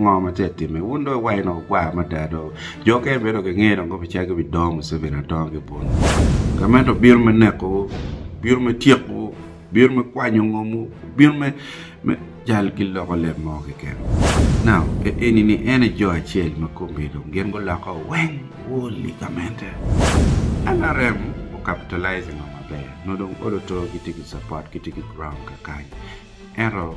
Ngo ma tye ka timme wun dong iwaco ni ogwar mada do jo mukene bene dong gingeyo dong kono calo gibi dongo museveni adonga ki bun gamente obino me neko wu obino me tyeko wu obino me kwanyo ngom wu obino me me cal ki loko leb mo keken now eni ni en aye jo acel ma komgi dong gin guloko weng woli gamente nrm o capitalize ngo maber nongo dong olo too gitye ki support gitye ki ground kakany ento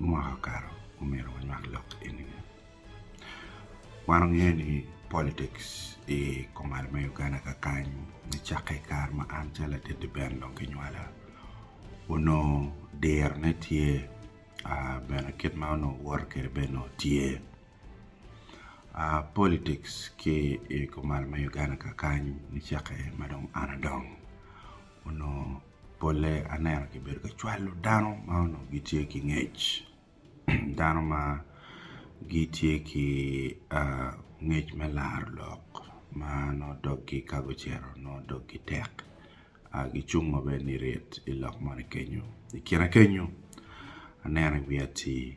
Mwaka okato omyero wanywak lok eni bene. Wan wangeyo ni politics i kumalo me Uganda kakany nicakke i kare ma an calo latit lubem dong kinywala onongo dirone tye bene kit ma onongo woto kwede bene onongo tye. Politics ki i kumalo me Uganda kakany nicakke ma dong an adongo onongo polle aneno kibedo ka cwalo dano ma onongo gitye ki ngec dano ma gitye ki ngec me laro lok ma nongo doggi ka gucito nongo doggi tek gicung ma bene nirit i lok moni kenyo i kine kenyo aneno i wi atii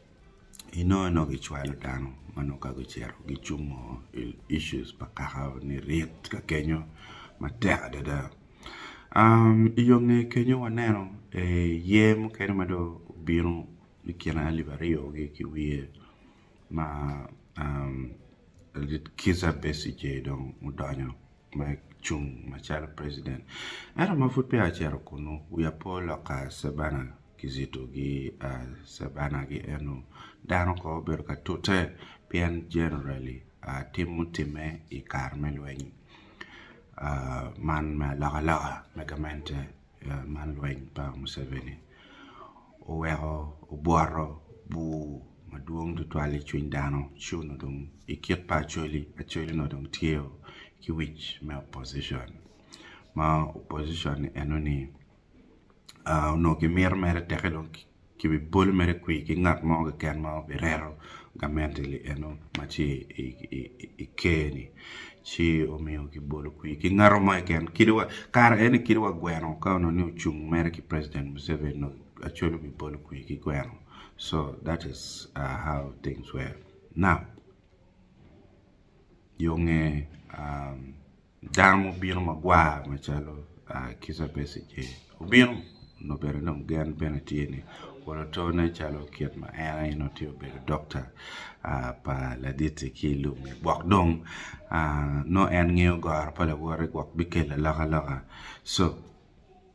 inongo nongo gicwalo dano ma nongo ka gucito gicungo i issues pa kaka ni rit ka kenyo matek adada i yo nge kenyo waneno ye mukene ma dong obino i kine alip aryo gi ki wiye ma lit kica Besigye dong odonyo me cung macalo president ento ma pud peya ocito kunu wiya pe olok ka Savannah kizito gi Savannah ki eno dano kor obedo ka tute pien generally tim mutimme i kare me lweny man me aloka loka me gamente man lweny pa Museveni oweko obwoto bur madwong tutwal i cwiny dano ci onongo dong i kit pa Acholi, Acholi onongo dong tye ki wic me opposition ma opposition enoni onongo ki mito mere teke dong ki bi bolo mere kwi ki ngat mo keken ma obi reto gamente li eno ma ci i ker ni ci omiyo ki bolo kwi ki ngato mo keken kadi wa kare eni kadi wa gweno ka onongo ni ocung mere ki president Museveni dong Acholi obi bolo kwi ki gweno so that is how things were now yo nge Dano mo obino magwar macalo Kica Besigye obino nyo bene dong gen bene tye ni olo tone calo kit ma en aye nongo tye obedo dokta pa Laditti ki i lubbe gwok dong nongo en ngeyo goro pa lawote gwok bikelle alokaloka so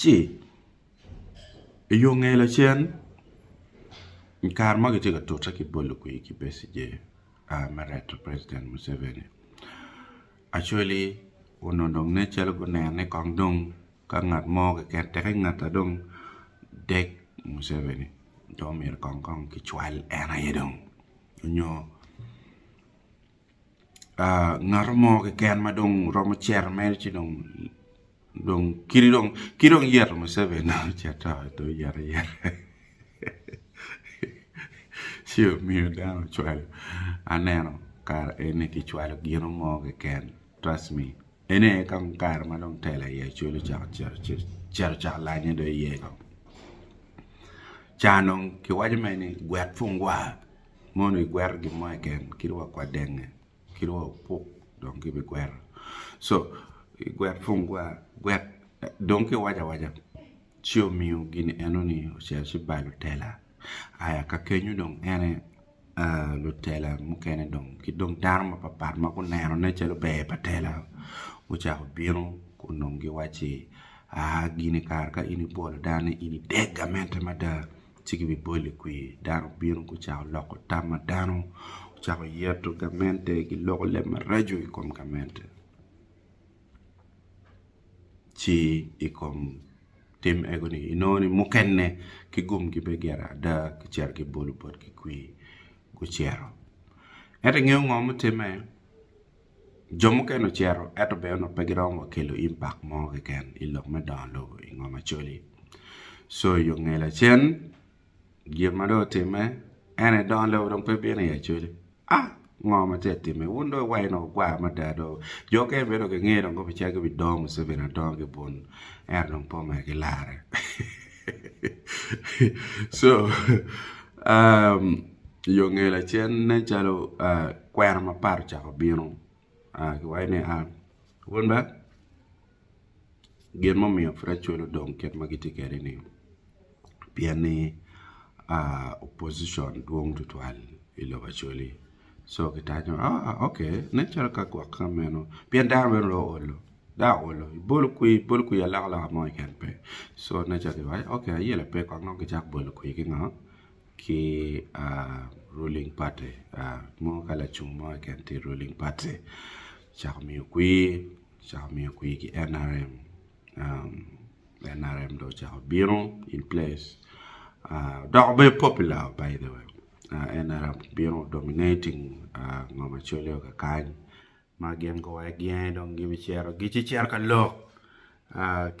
ci i yo nge lacen i kare ma kitye ka tute ki bolo kwir ki Besigye a me reto president Museveni Acholi onongo dong nen calo guneno ni kong dong ka ngat mo keken teke ngata dong dek Museveni dong myero kong kicwal en aye dong nyo ngat mo keken ma dong romo cito mere ci dong dong kadi dong ki dong yeto Muceveni dong ocito dong oyero ayera ci omiyo dano ocwalo aneno kare eni kicwalo gino mo keken trust me ene aye kong kare ma dong telo aye calo ocako cito cito cito cak lanye dong iye kong ca dong kiwaco mere ni gwet pungwa Mono igwero gin mo keken kit wa kwa denge kit wa opuk dong ki bi gwero so igwet pong gwa gwet dong ki waco awaca ci omiyo gin eno ni ocito ci ba lutela aya ka kenyo dong en aye lutela mukene dong ki dong dano mapar par ma guneno ne calo ber pa tela gucako bino kun dong giwaci aa gini kare ka in ibwolo dano ni in idek gamente mada ci kibibolo i kwir dano bino gucako loko tam ma dano ocako yeto gamente giloko leb maraco i kom gamente ci i kom tim ego ni inongo ni mukene ki gumgi pe gire ada kicito kibolo botgi kwir gucito ento ingeyo ngo mutimme Jo mukene ocito, ento bene onongo pe giromo wa kelo impact mo keken i lok me dongo lobo i ngom Acholi. So i yo nge lacen, gin ma dong otimme en aye dongo lobo dong pe bino i Acholi. Ah! Ngo ma tye ka timme? Wun dong iwaco ni wagwar mada do. Jo mukene bene dong gingeo dong gubicito gubidongo Museveni adonga ki bun. Ento dong pe omedo gilarre. Co i yo nge lacen nen calo kwena mapat ocako bino kiwaco ni wun be gin mumiyo pud acwalo dong kit ma gitye kwede ni pien ni opposition dwong tutwal i lobo Acholi co kitanyo ok nen calo ka gwok ka meno pien dano bene onongo olo. dong aolo i bolo kwir i bolo kwir aloko aloka mo keken pe so na ca ki waco ok aye lape kong nongo kicako bolo kwir ki ngo ki ruling party mo ka lacung mo keken tye i ruling party kicako miyo kwir kicako miyo kwir ki NRM NRM dong ocako bino in place odoko mere popular by the way NRM obino dominating ngo macalo kakany Ma gin guwayo gyange dong gibicito gicito ka lok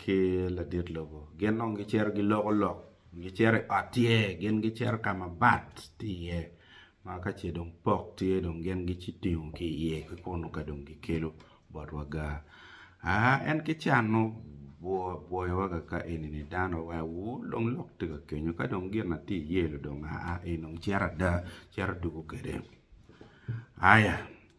ki ladit lobo. Gin dong gicito giloko lok, gicito i ot tye, gin gicito ka ma bat tye iye ma ka ce dong pok tye dong gin gitingo ki iye ki kunnu ka dong gikelo bot waga. Aa en ki can ma obwoyowa kaka eni-ni dano aye weko ur dong lok tye ka kenyo ka dong gin ma tye iye-ni dong aa eni dong cito ada cito dugo kwede. Aya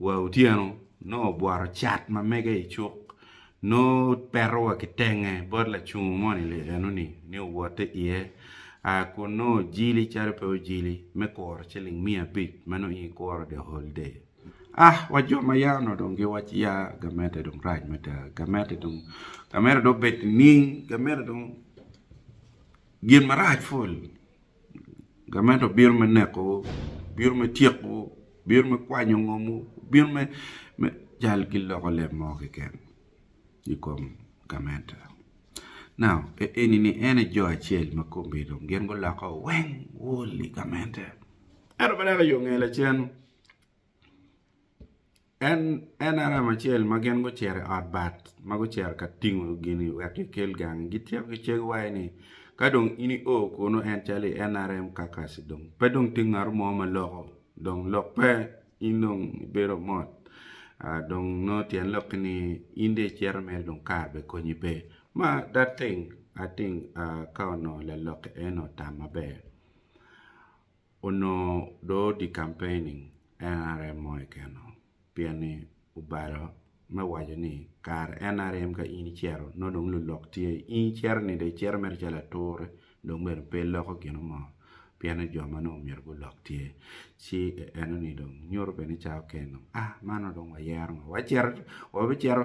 Wa otyeno, nongo obworo cat ma mege i cuk, nongo peto wa ki tenge bot lacungo moni li eno ni, ni owote iye, aa kun nongo ojili calo pe ojili me kuro ciling miya abic ma nongo in ikuro the whole day. Ah, wa jo ma yaa onongo dong gi waci ya gamente dong rac mada, gamente dong, gamente dong obed nining, gamente dong gin marac ful. Gamente obino me neko, obino me tyeko, obino me kwanyo ngomwu, obino me cal ki loko lem mo keken i kom gamente. Now, enini en aye jo acel ma komgi dong gin guloko weng wol i gamente. Ento pe dok i yo nge lacen. En NRM acel ma gin gucito i ot bat ma gucito ka tingo gini wek gikel gangi. Gityeko ki cen waye ni, Ka dong in io kunnu en calo i NRM Kakasi dong pe dong tye ngat mo ma loko. Dong lok pe in dong ibedo mot. Dong nongo tyen lokki ni in dong icito mere dong kare bene konyi pe. Ma that thing I think ka onongo lalokke eno otam maber. Onongo dong odi campaigning nrm mo kekeno pien ni obalo me waco ni kare nrm ka in icito nongo dong lulok tye in icito ni dong icito mere calo ature dong bene pe iloko gino mo pien ni jo ma nongo myero gulok tye ci enoni dong nyuto bene cawa kekeni dong ah man nongo dong wayero ngo wacito wabicito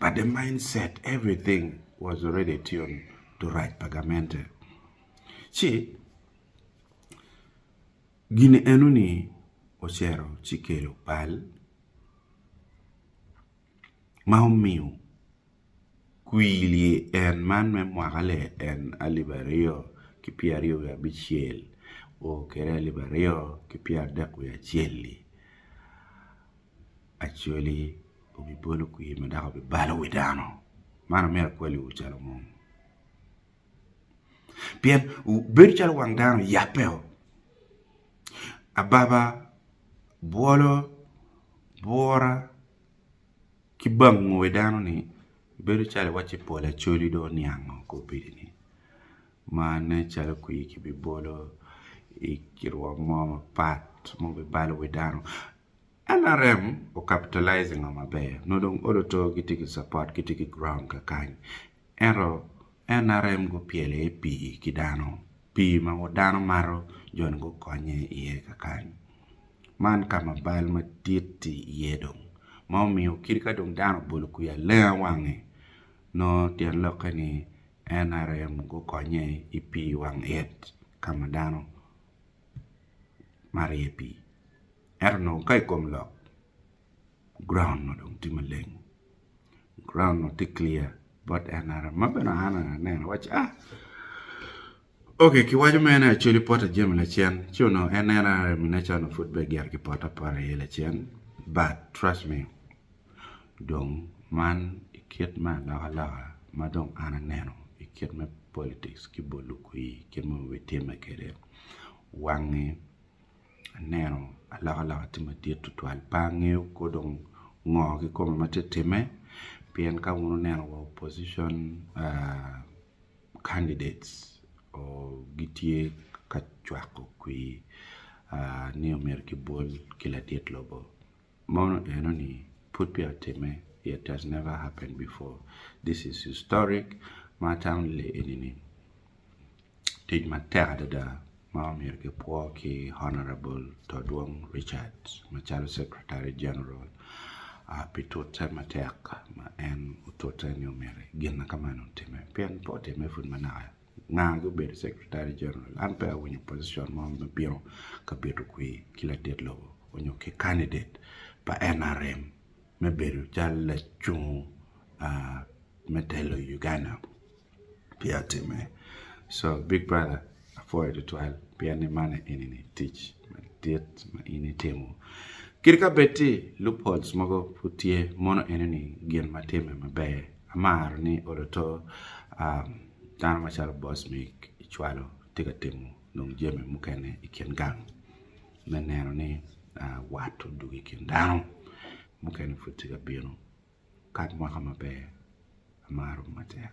but the mind set everything was already tuned to rac pa gamente ci gin eno ni ocero ci kelo bal ma omiyo kwili en man me mwaka le en alip aryo ki pyera aryo wiye abicel o kede alip aryo ki pyera adek wiye acel-li Acholi obibolo kwir ma dok obibalo wi dano. Man omyero akwaliwu calo munu. Pien bedo calo wang dano yabbeo, ababa, bwolo, bwura ki bango wi dano-ni bedo calo iwacci pol Acholi dong oniango ki obedini ma nen calo kwir kibibolo i rwom mo mapat ma obibalo wi dano. NRM o capitalize i ngo maber nongo dong odo to gitye ki support gitye ki ground kakany ento NRM gupyelo aye pii ki dano pii ma dano mato jo ni gukonye iye kakany man ka ma bal madit tye iye dong ma omiyo kit ka dong dano obolo kwiya lenga wange nongo tyen lokke ni NRM gukonye i pii wang it ka ma dano mato iye pii. Ento onongo ka i kom lok, ground onongo dong tye maleng, ground onongo tye clear bot en ara ma bene an aneno awaco ni ok kiwaco mere ni Acholi poto jami lacen ci onongo en NRM ine calo onongo pud peya gire kipoto apota iye lacen but trust me dong man i kit me alokaloka ma dong an aneno i kit me politics ki bol lukwir kit ma wabitimme kwede wangi aneno alokaloka tye madit tutwal pe angeyo kor dong ngo kikome ma tye time pien ka wun oneno wa opposition candidates gitye ka cwako kwir ni omyero kibol ki ladit lobo. Mono enoni pud peya otimme, it has never happened before, this is historic, ma atamo ni lee enini tic matek adada ma omyero ki pwo ki Honourable Todwong Richard macalo Secretary General pi tute matek ma en otute ni omyero gin ma kamano otimme pien pe otimme pud manaka. nga gubedo secretary general an pe awinyo position mo me bino ka bito kwi ki latit lobo onyo ki candidate pa NRM me bedo cal lacung me telo Uganda pe atime so big brother apwoyo tutwal pien ni man enini tic madit ma in itimo kit ka bed ci loopholes mogo pud tye mono enini gin ma time maber amaro ni oloto Dano macalo boss mig icwalo tye ka timo nongo jami mukene i kin gang me neno ni wat odwogo i kin dano mukene pud tye ka bino kat mwaka maber amaro matek.